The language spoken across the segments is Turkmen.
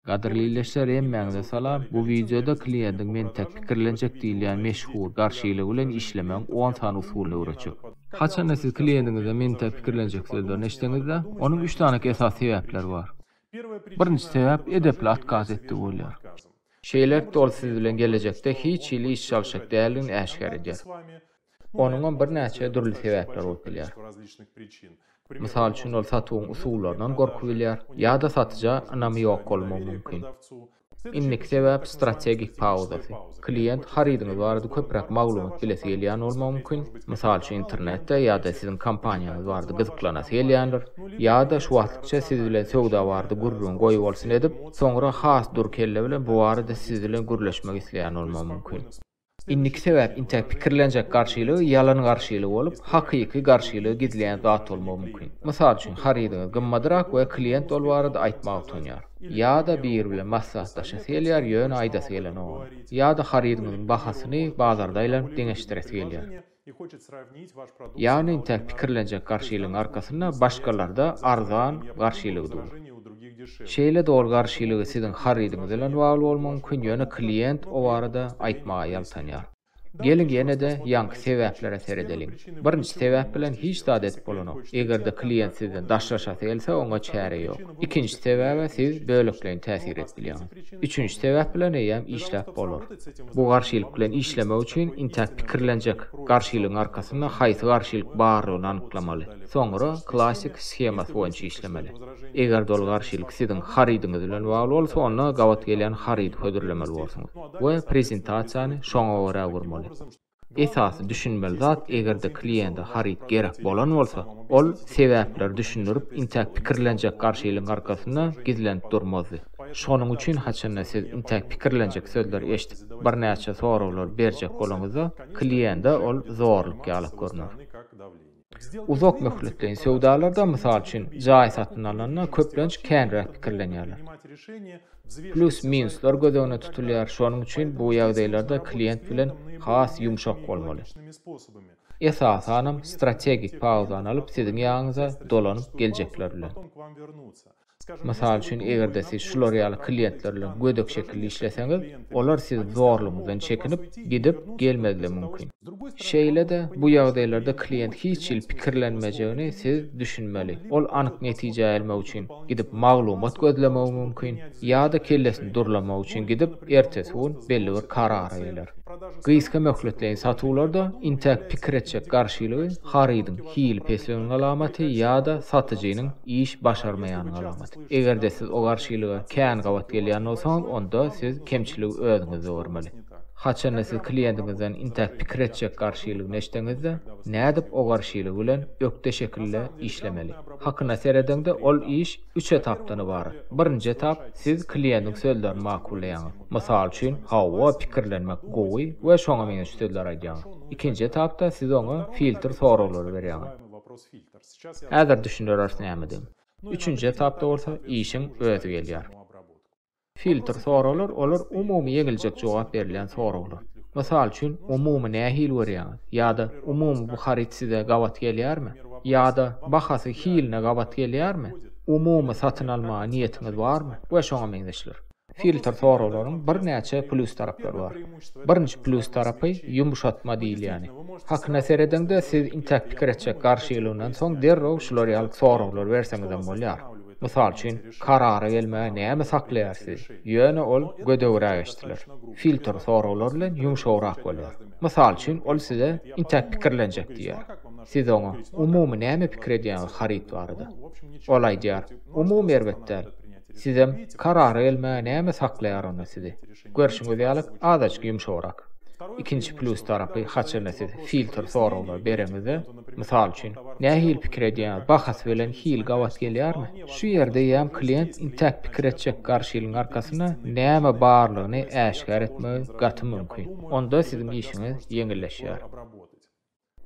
Gadyrly ildeşler hemmäňize salam, bu wideoda kliýendiň mentäk pikirlenjek diýilýän meşhur garşylygy bilen işlemegiň on sany usulyny öwretjek. Haçanda siz kliýendiňize mentäk pikirlenjek sözlerini eşitseňizde, onuň üç danak esasy sebäpleri bar. Birinji sebäp edepli atkaz etdigi bolýar. Şeýlelikde ol siz bilen gelejekde hiç hili iş çalyşjak däldigini äşgär edýär. Onuňam birnäçe dürli sebäpleri bolup bilýär. Mysal üçin, ol satuwyň usullaryndan gorky bilýär ýa-da satyja ynamy ýok bolmagy mümkin. Indiki sebäp strategik pauzasy. Kliýent harydyňyz barada köpräk maglumat bilesi gelýän bolmagy mümkin, mysal üçin internetde ýa-da siziň kompaniýaňyz barada gyzyklanasy gelýändir, ýa-da şu wagtlykça siz bilen söwda barada gürrüň goýbolsun edip, soňra has dury kelle bilen bu barada siz bilen gürleşmek isleýän bolmagy mümkin. Indiki sebäp intäk pikirlenjek garşylygy ýalan garşylygy bolup, hakyky garşylygy gizleýän zat bolmagy mümkin. Mysal üçin, harydyňyz gymmadrak we klient ol barada aýtmaga utanýar. Ýa-da biri bilen maslahatlaşasy gelýär, ýöne aýdasy gelenok oňa. Ýa-da harydyňyzyň bahasyny bazarda aýlanyp deňeşdiresi gelýär. Ýagny tä pikirlenjek garşylygyň arkasynda başgalarda arzan garşylygy dur. Şeýle-de ol garşylygy siziň harydyňyz bilen bagly bolmagy mümkin, ýöne klient o barada aýtmaga ýaltanýar. Geliň ýene-de ýaňky sebäplere seredeliň. Birinji sebäp bilen hiç zat edip bolanok. Eger-de klient sizden daşlaşasy gelse, oňa çäre ýok. Ikinji sebäbe siz bölekleýin täsir edip bilýäňiz. Üçünji sebäp bilen eýýäm işläp bolar. Bu garşylyk bilen işlemek üçin intäk pikirlenjek, garşylygyň arkasynda haýsy garşylyk bardygyny anyklamaly. Soňra klassik skemasy boýunça işlemeli. Eger-de ol garşylyk siziň harydyňyz bilen bagly bolsa, onda gabat gelýän harydy hödürlemeli bolsuňyz we prezentasiýany şoňa görä gurmaly. Esasy düşünmeli zat, eger-de kliýente haryt gerek bolan bolsa, ol sebäpleri düşündirip, intäk pikirlenjek garşylygyň arkasynda gizlenip durmazdy. Şonuň üçin haçanda siz intäk pikirlenjek sözleri eşidip, birnäçe soraglary berjek bolaňyzda, kliýente ol zorluk ýaly görner. Uzak möhletleýin söwdalarda, mysal üçin, jaý satyn alanda köplenç känräk pikirlenýärler. Plýus-minuslar göz öňünde tutulýar, şonuň üçin bu ýagdaýlarda klient bilen has ýumşak bolmaly. Esasanam, strategik pauzany alyp, siziň ýanyňyza dolanyp geljekler bilen. Mysal üçin, eger-de siz şular ýaly kliýentler bilen gödek şekilli işleseňiz, olar siz zorlugyňyzdan çekinip, gidip, gelmezligi mümkin. Şeýle-de, bu ýagdaýlarda kliýent hiç hili pikirlenmejegini siz düşünmeli. Ol anyk netijä elmek üçin gidip maglumat gözlemegi mümkin, ýa-da kellesini durlamak üçin gidip, ertesi gün belli bir karara geler. Gysga möhletleýin satuwlarda intäk pikir etjek garşylygy harydyň hili pesligiň alamaty ýa-da satyjynyň iş başarmaýanyň alamaty. Eger-de siz o garşylyga kän gabat gelýän bolsaňyz, onda siz kemçiligi özüňizde görmeli. Haçanda siz kliýentiňizden intäk pikir etjek garşylygyny eşitseňiz-de, nädip o garşylygy bilen ökde şekilde işlemeli? Hakyna seredeňde, ol iş üç etapdan ybarat. Birinji etap, siz kliýentiň sözlerini makullaýaňyz. Mysal üçin, Hawa, pikirlenmek gowy we şoňa meňzeş sözler aýdýaňyz. Ikinji etapda siz oňa filtr soraglary berýäňiz. Häzir düşündiriris näme diýen. Üçünji etapda bolsa işiň özi gelýär. Filtr soraglar olar umumy ýeňiljek jogap berilýän soraglar. Mysal üçin, umumy nähili görýäňiz? ýa-da umumy bu haryt size gabat gelýärmi? ýa-da bahasy hiline gabat gelýärmi? umumy satyn almaga niýetiňiz barmy? we şoňa meňzeşler. Filter soraglaryň birnäçe plýus taraplary bar. Birinji plýus tarapy ýumşatma diýilýäni. Hakyna seredeňde siz intäk pikir etjek garşylygyňdan soň derrew şular ýaly soraglar berseňizem bolýar. Mysal üçin, karara gelmäge näme saklaýar sizi? Ýöne ol gödegräk eşdiler. Filter soraglar bilen ýumşagrak bolýar. Mysal üçin ol size intäk pikirlenjek diýýär. Siz oňa umumy näme pikir edýäňiz haryt barada? Ol aýdýar, umumy erbet däl. Sizem karara gelmäge näme saklaýar onda sizi? Görşüňiz ýaly azajyk ýumşagrak. Ikinji plýus tarapy haçanda siz filtr soraglary bereňizde, mysal üçin, nähili pikir edýäňiz bahasy bilen hil gabat gelýärmi? Şu ýerde ýam klient intäk pikir etjek garşylygyň arkasynda näme barlygyny äşgär etmegi gaty mümkin. Onda siziň işiňiz ýeňilleşýär.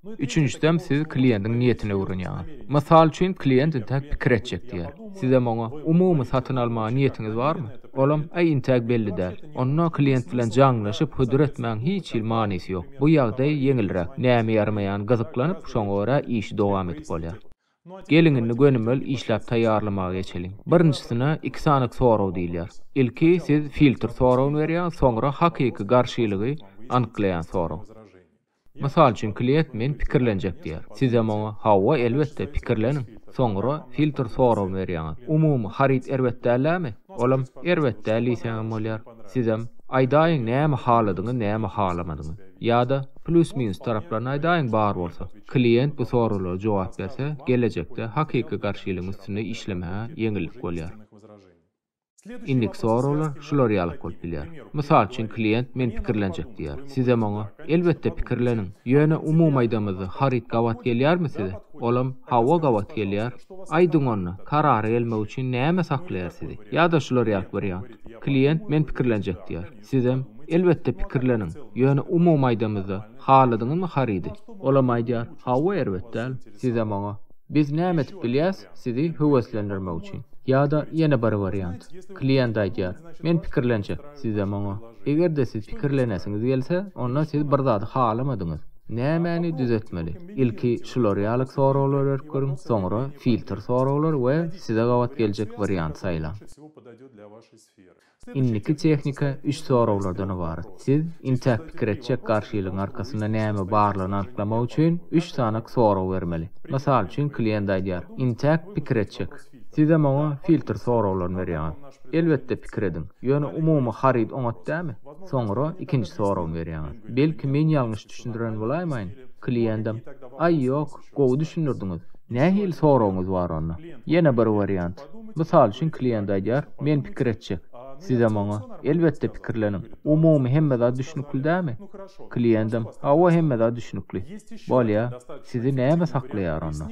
Üçünjisem siz kliýentiň niýetini öwrenýäňiz. Mysal üçin kliýent intäk pikir etjek diýer. Sizem oňa, umumy satyn almaga niýetiňiz barmy? Olam, äý intäk belli däl. Onda kliýent bilen jaňlaşyp hödür etmegiň hiç hili manysy ýok. Bu ýagdaý ýeňilräk, näme ýaramaýan gyzyklanyp şoňa görä işi dowam edip bolýar. Geliň indi gönümel işläp taýýarlamaga geçeliň. Birinjisine iki sanyk sorag diýilýär. Ilki siz filtr soragyny berýäňiz soňra hakyky garşylygy anyklaýan sorag. Mysal üçin, klient Men pikirlenjek diýýär. Sizem oňa Hawa, elbetde, pikirleniň. Soňra filtr soragyny berýäňiz. Umumy haryt erbet dällämi? Olam Erbet däl diýseňem bolýar. Sizem Aýdaýyň näme haladyňyz, näme halamadyňyz. Ýa-da Plýus-minus taraplaryny aýdaýyň bar bolsa. Klient bu soraglara jogap berse, gelejekde hakyky garşylygyň üstünde işlemäge ýeňillik bolýar. Indiki soraglar şular ýalyk bolup bilýär. Mysal üçin klient men pikirlenjek diýýär. Sizem oňa, Elbetde pikirleniň. Ýöne umumy aýdamyzda haryt gabat gelýärmi size? Olam, Hawa gabat gelýär. Aýdyň onda, karara gelmek üçin näme saklaýar sizi? Ýa-da şular ýalyk wariant. Klient men pikirlenjek diýýär. Sizem, Elbetde pikirleniň. Ýöne umumy aýdamyzda haladyňyzmy harydy? Olam aýdýar, Hawa erbet däl. Sizem oňa, Biz näme edip bilýäs sizi höweslendirmek üçin? Ýa-da ýene bir wariant. Kliýent aýdýar, Men pikirlenjek, sizem oňa. Eger-de siz pikirlenesiňiz gelse, onda siz bir zady halamadyňyz. Nämäni düzetmeli? Ilki şular ýaly soraglar berip görüň, soňra filtr soraglar we size gabat geljek wariant saýlaň. Indiki tehnika üç soraglardan ybarat. Siz intäk pikir etjek garşylygyň arkasynda näme barlygyny anyklamak üçin üç sany sorag bermeli. Mysal üçin klient aýdýar, Intäk pikir etjek. Siz-ä maňa filtr soraglaryny berýäňiz. Elbetde pikir ediň. Ýöne umumy haryt oňat dälmi? Soňra ikinji soragyny berýäňiz. Belki men ýalňyş düşündiren bolaýmaýyn? Kliendem, Aý ýok. Gowy düşündirdiňiz. Nähili soragyňyz bar onda? Ýene bir wariant. Mysal üçin klient aýdýar, men pikir etjek. Sizem oňa, elbetde pikirleniň. Umumy hemme zat düşnükli dämi? Kliendim, hawa hemme zat düşnükli. Bolýa, sizi näme saklaýar onda?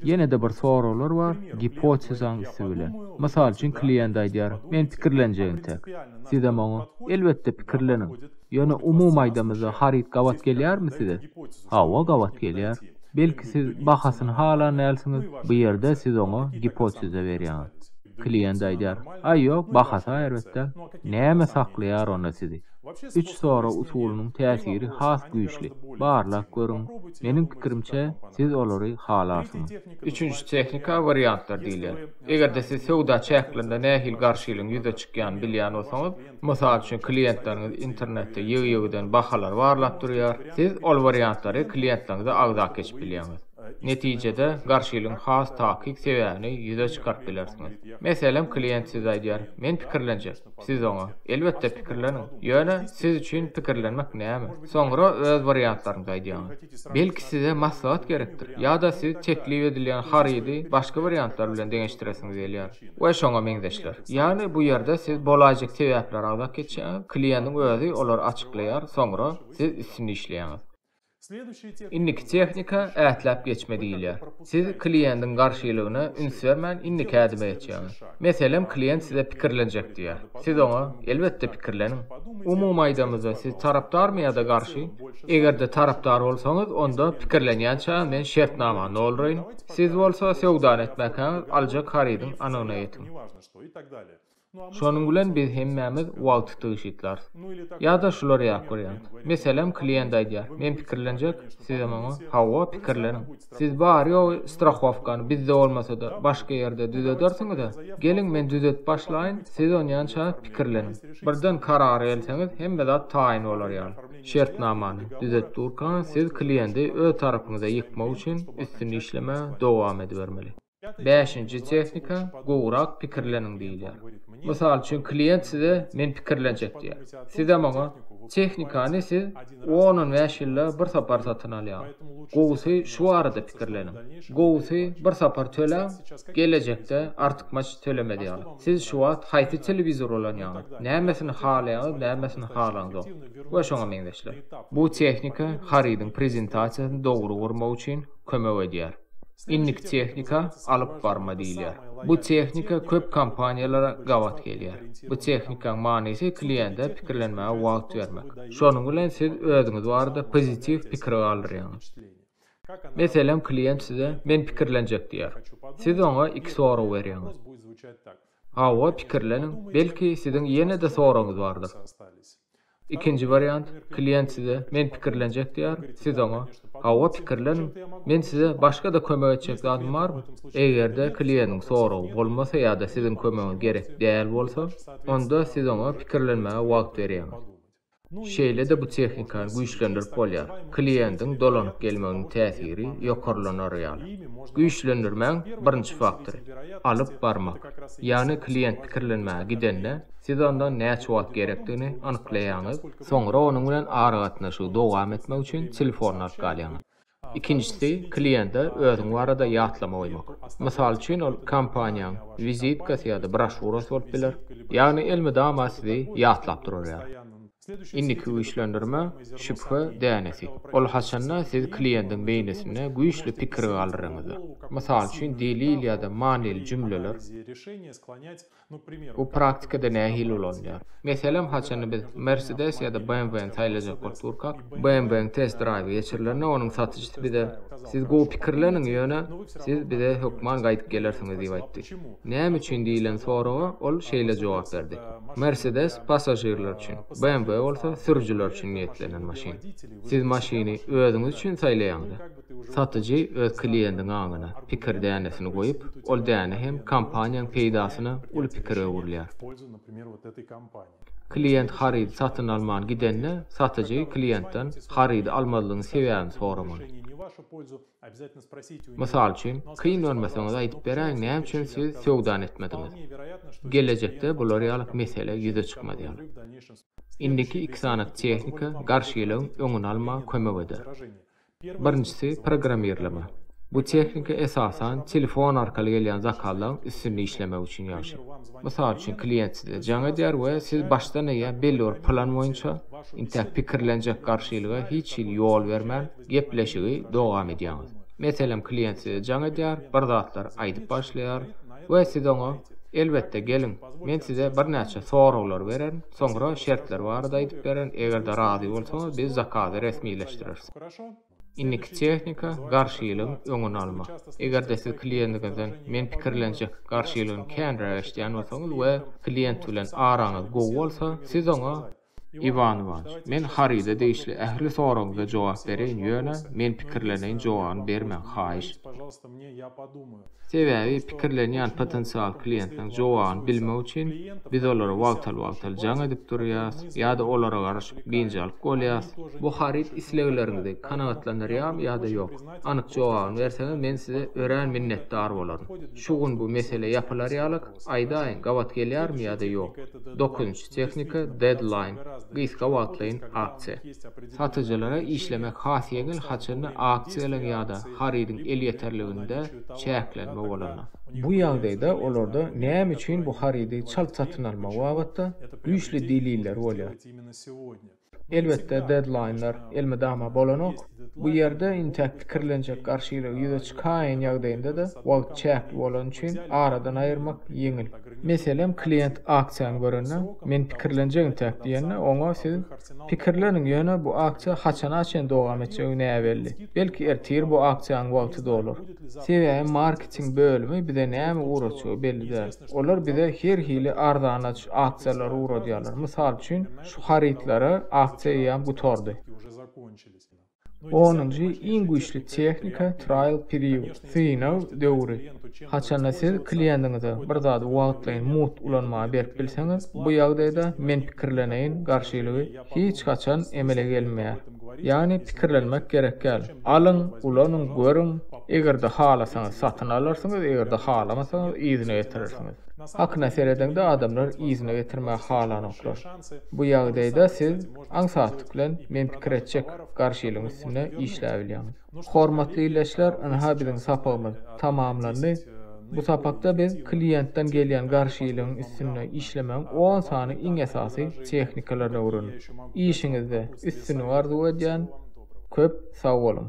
Ýene-de bir soraglar bar, gipotezaň üsti bilen. Mysal üçin klient aýdýar, men pikirlenjegin tek. Sizem oňa, elbetde pikirleniň. Ýöne umumy aýdamyzda haryt gabat gelýärmi size? Hawa gabat gelýär. Belki siz bahasyny halan dälsiňiz, bu ýerde siz oňa gipoteza berýäňiz. Kliýent aýdýar, Aý ýok, bahasy-a erbet däl. Näme saklaýar onda sizi? Üç sorag usulynyň täsiri has güýçli. Barlap görüň. Meniň pikirimçe, siz olary halarsyňyz. Üçünji tehnika wariantlar diýilýär. Eger-de siz söwda çäklerinde nähili garşylygyň ýüze çykýanyny bilýän bolsaňyz, Mysal üçin, klientleriňiz internetde ýygy-ýygydan bahalary barlap durýar. Siz ol wariantlary klientleriňize agzap geçip bilýäňiz. Netijede, garşylygyň has takyk sebäbini ýüze çykaryp bilersiňiz. Meselem, klient size aýdýar, Men pikirlenjek. Siz oňa, Elbetde, pikirleniň. Ýöne, siz üçin pikirlenmek näme? Soňra öz wariantlaryňyzy aýdýaňyz. Belki size maslahat gerekdir, ýa-da siz teklip edilýän harydy başga wariantlar bilen deňeşdiresiňiz gelýär. we şoňa meňzeşler. Ýagny bu ýerde siz bolaýjak sebäpleri agzap geçýäňiz, kliýendiň özi olary açyklaýar, soňra siz üstünde işleýäňiz. Indiki tehnika ätläp geçme diýilýär. Siz kliýendiň garşylygyna üns bermän indiki ädime geçýäňiz. Meselem kliýent size pikirlenjek diýýär. Siz oňa, Elbetde pikirleniň. Umumy aýdamyzda siz tarapdarmy ýa-da garşy? Eger-de tarapdar bolsaňyz, onda pikirlenýänçä men şertnamany dolduraýyn. Siz bolsa söwdany etmäkäňiz aljak harydyň anygyna ýetiň. Şonuň bilen biz hemmämiz wagty tygşytlarys. Ýa-da şular ýap görýäňiz. Meselem, klient aýdýar, Men pikirlenjek, sizem oňa, Hawa, pikirleniň. Siz bary-ýogy strahowkany bizde bolmasa-da, başga ýerde düzedersiňiz-ä. Geliň, men düzedip başlaýyn, siz onýança pikirleniň. Birden karara gelseňiz, hemme zat taýyn bolar ýaly. Şertnamany düzedip durka, siz kliýenti öz tarapyňyza ýykmak üçin üstünde işlemäge dowam edibermeli. Bäşinji tehnika, gowrak pikirleniň diýilýär. Mysal üçin, klient size men pikirlenjek diýýär. Sizem oňa, Tehnikany siz on-on bäş ýylda bir sapar satyn alýaň. Gowusy şu barada pikirleniň. Gowusy bir sapar töläň, gelejekde artykmaç tölemez ýaly. Siz şu wagt haýsy telewizor ulanýaňyz, nämesini halaýaňyz, nämesini halaňzok we şoňa meňzeşler. Bu tehnika harydyň prezentasiýasyny dogry gurmak üçin kömek edýär. Indiki tehnika alyp barma diýilýär. Bu tehnika köp kompaniýalara gabat gelýär. Bu tehnikaň manysy kliýente pikirlenmäge wagt bermek. Şonuň bilen siz özüňiz barada pozitiw pikir galdyrýaňyz. Meselem kliýent size Men pikirlenjek diýýär. Siz oňa iki sorag berýäňiz. Hawa pikirleniň, belki siziň ýene-de soragyňyz bardyr. Ikinji wariant, klient size Men pikirlenjek diýer, siz oňa Hawa, pikirleniň, men size başga-da kömek etjek zadym barmy? Eger-de kliendiň soragy bolmasa ýa-da siziň kömegiňiz gerek däl bolsa, onda siz oňa pikirlenmäge wagt berýäňiz. Şeýle-de bu tehnikany güýçlendirip bolýar, kliendiň dolanyp gelmeginiň täsiri ýokarlanar ýaly. Güýçlendirmäň birinji faktory, alyp barmak. Ýagny klient pikirlenmäge gidende, Siz onda näçe wagt gerekdigini anyklaýaňyz, soňra onuň bilen aragatnaşygy dowam etmek üçin telefonyny alyp galýaňyz. Ikinjisi, kliýente özüň barada ýatlama goýmak. Mysal üçin, ol kompaniýaň wizitkasy ýa-da broşurasy bolup biler. Ýagny elmydama sizi ýatlap durarýar. Indiki güýçlendirme, şübhe dänesi. Ol haçanda siz kliýentiň beýnisinde güýçli pikir galdyryňyzda. Mysal üçin, delil ýa-da manyly jümleler. Bu praktikada nähili ulanylýar? Meselem, haçanda biz Mercedes ýa-da BMW-ni saýlajak bolup durkak, BMW-niň test-draýwy geçirilende onuň satyjysy bize, Siz gowy pikirleniň, ýöne siz bize hökman gaýdyp gelersiňiz diýip aýtdy. Näme üçin diýlen soraga ol şeýle jogap berdi, Mercedes passažirler üçin, BMW bolsa sürüjiler üçin niýetlenen maşyn. Siz maşyny özüňiz üçin saýlaýaňyz-a. Satyjy öz kliendiň aňyna pikir dänesini goýup, ol däne hem kompaniýaň peýdasyna uly pikir öwrülýär. Klient harydy satyn alman gidende, satyjy klientden harydy almazlygyň sebäbini soramaly. Mysal üçin, kyn görmeseňiz aýdyp beräýiň näme üçin siz söwdany etmediňiz? Gelejekde bular ýaly mesele ýüze çykmaz ýaly. Indiki iki sany tehnika garşylygyň öňüni almaga kömek eder. Birinjisi, programmirleme. Bu tehnika esasan telefon arkaly gelýän zakazlaryň üstünde işlemek üçin ýagşy. Mysal üçin, klient size jaň edýär we siz başdan eýýäm belli bir plan boýunça, intäk pikirlenjek garşylyga hiç hili ýol bermän, gepleşigi dowam edýäňiz. Meselem, klient size jaň edýär, bir zatlar aýdyp başlaýar we siz oňa, Elbetde, geliň, men size birnäçe soraglar bererin, Soňra şertler barada aýdyp bererin, eger-de razy bolsaňyz, biz zakazy resmileşdireris. Indiki tehnika, garşylygyň öňüni almak. Eger-de siz kliendiňizden men pikirlenjek garşylygyny känräk eşidýän bolsaňyz we klient bilen araňyz gowy bolsa, siz oňa, Iwan Iwanyç, men haryda degişli ähli soragyňyza jogap bereýin, ýöne, men pikirleneýin jogabyny bermäň, haýyş. Sebäbi pikirlenýän potensial kliýentiň jogabyny bilmek üçin biz olara wagtal-wagtal jaň edip durýarys ýa-da olara garaşyp biynjalyk bolýarys. Bu haryt islegleriňizi kanagatlandyrýarmy ýa-da ýok? Anyk jogabyny berseňiz men size örän minnetdar bolaryn. Şu gün bu mesele ýapylar ýalyk, aýdaýyň gabat gelýärmi ýa-da ýok? Dokuzynjy tehnika, deadline, gysga wagtlaýyn aksiýa. Satyjylara işlemek has ýeňil, haçanda aksiýalaryň ýa-da harydyň elýeterliginde çäklenme bolanda. Bu ýagdaýda olarda näme üçin bu harydy çalt satyn almagy babatda güýçli deliller bolýar. Elbetde, dedlaýnlar elmydama bolanok. Bu ýerde intäk pikirlenjek garşylygy ýüze çykaýan ýagdaýynda-da wagt çäkli bolany üçin aradan aýyrmak ýeňil. Meselem, klient aksiýany görende, Men pikirlenjek intäk diýende, oňa siz Pikirleniň, ýöne bu aksiýa haçana çen dowam etjegi näbelli. Belki ertir bu aksiýanyň wagty dolar. Sebäbi marketing bölümi bize näme ugratjagy belli däl. Olar bize her hili arzanaç aksiýalary ugradýarlar. Mysal üçin, şu harytlara aksiýa eýýäm gutardy. Onunjy iň güýçli tehnika trial period, synag döwri. Haçanda siz kliendiňize bir zady wagtlaýyn mugt ulanmaga berip bilseňiz, bu ýagdaýda men pikirleneýin garşylygy hiç haçan emele gelmeýär. Ýagny pikirlenmek gerek däl. Alyň, ulanyň, görüň, eger-de halasaňyz satyn alarsyňyz, eger-de halamasaňyz yzyna getirersiňiz. Hakyna seredeňde adamlar yzyna getirmäge halanoklar. Bu ýagdaýda siz Aňsatlyk bilen men pikir etjek garşylygyň üstünde işläbilýäň. Hormatly ildeşler ynha biziň sapagymyz tamamlandy. Bu sapakda biz kliýentden gelýän garşylygyň üstünde işlemegiň on sany iň esasy tehnikalaryny öwrendik. Işiňizde üstünlik arzuw edýän. Köp sag boluň.